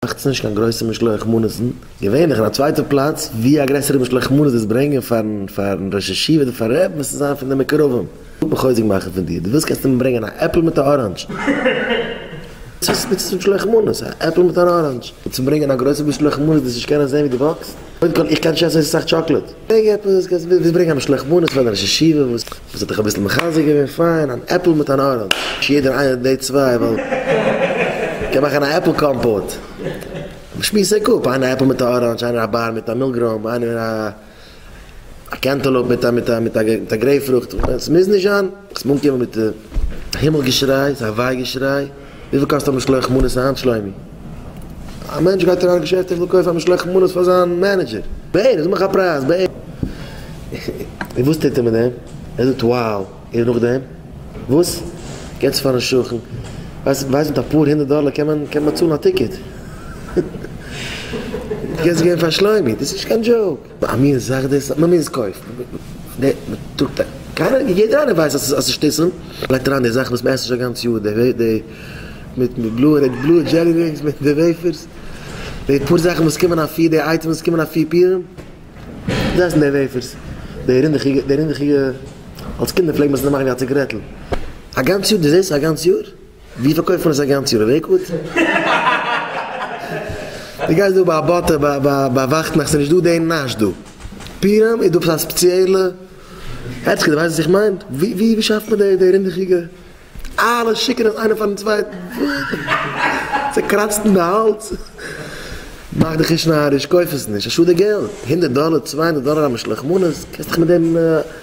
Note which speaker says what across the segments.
Speaker 1: מאכטס נישט קיין גרויסע משלוח מנות'ן, געווענליך אין א צווייטע פלאץ, ווי א גרעסערע משלוח מנות דאס ברענגען פארן פארן ראש ישיבה אדער פארן רב מוזט עס זיין פון די מקורבים, איך וויל חוזק מאכן פון דיר, דו ווילסט קענסטו מיר ברענגען א עפל מיט א אראנדזש. צופיס מיט צו משלוח מנות, א עפל מיט אן אראנדזש, און צו ברענגען א גרויסע משלוח מנות דאס נישט קענען זען ווי דו וואקסט, קודם כל איך קען נישט עסן אזוי סאך טשאקלעד, ברענג עפעס וואס קענסט, ווילסט ברענגען א משלוח מנות פאר די ראש ישיבה וואס. דאס האט דיך אביסל מחזק געווען? פיין, אן עפל מיט אן אראנדזש, יעדער איינער די צוויי ווייל מ'קען מאכן א עפל קאמפאוט. שמועס זיך אפ, איינער א עפל מיט א אראנדזש, איינער א באר מיט א מילגרוים, איינער א קענטעלאופ מיט א מיט א גרעיפ פרוכט, עס מוז נישט זיין, עס מען אנקומען מיט הימל געשריי, ס'איז א וויי געשריי. וויפיל קאסט א משלוח מנות היינט שלומי? א מענטש גייט אריין אין געשעפט און וויל קויפן א משלוח מנות פאר זיין מענעדזשער. בערך, זאג מיך א פרייז בערך. און וואס טוט ער מיט דעם? ער זאגט wow און נאכדעם? וואס? געבט עס פארן שכן. ווייסט מיט אפאר הונדערט דאלער קען מען באצאלן א טיקעט. דו קענסט עס געבן פאר שלומי. דאס איז נישט קיין דזשאוק. א מין זאך דאס אז מ'מוז קויפן, מ'טראגט א, קיינער, יעדער איינער ווייסט אז ס'איז שטותים, מ'לייגט אריין די זאכן וואס מ'עסט שוין א גאנץ יאר, די מיט די בלויע דזשעלי רינגס מיט די וועיפערס, די פאר זאכן וואס קומען אפי', די אייטעמס וואס קומען אפי' פירן, זיי עסן די וועיפערס, די רינדעכיגע, די רינדעכיגע, אלס קינדער פלעגט מען עס נאכמאכן ווי א ציגערעטל, א גאנץ יאר, דו זעסט עס א גאנץ יאר? ווי פארקויפט מען עס א גאנץ יאר אין לעיקוואוד? די גייסט דא ביי באטע ביי וואכטנאכט ס'נישט דא די נאש דא פיהמ איז דא עפעס א ספעציעלע העצקע די ווייסט וואס איך מיין? ווי שאפט מען די רינדעכיגע אלע שיקן עס איינער פארן צווייטן צוקראצט אין די האלז מאך דיך נישט נאריש קויף עס נישט א שאד די געלט הונדערט דאלער צוויי הונדערט דאלער א משלוח מנות קענסט דיך מיט דעם.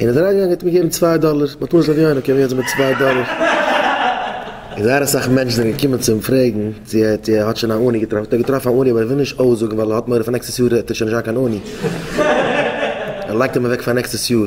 Speaker 1: און איז אריינגעגאנגען האט מיר געגעבן צוויי דאלער, מ'האט מורא ס'זאל ווי איינער קומען יעצט מיט צוויי דאלער. און זייער אסאך מענטשן זענען געקומען צו אים פרעגן צו ער צו ער האט שוין א אני געטראפן, האט ער געטראפן א אני אבער ער וויל נישט אויסזאגן ווייל ער האט מורא פאר נעקסטעס יאר וועט ער שוין נישט זיין קיין אני, ער לייגט אים אוועק פאר נעקסטעס יאר.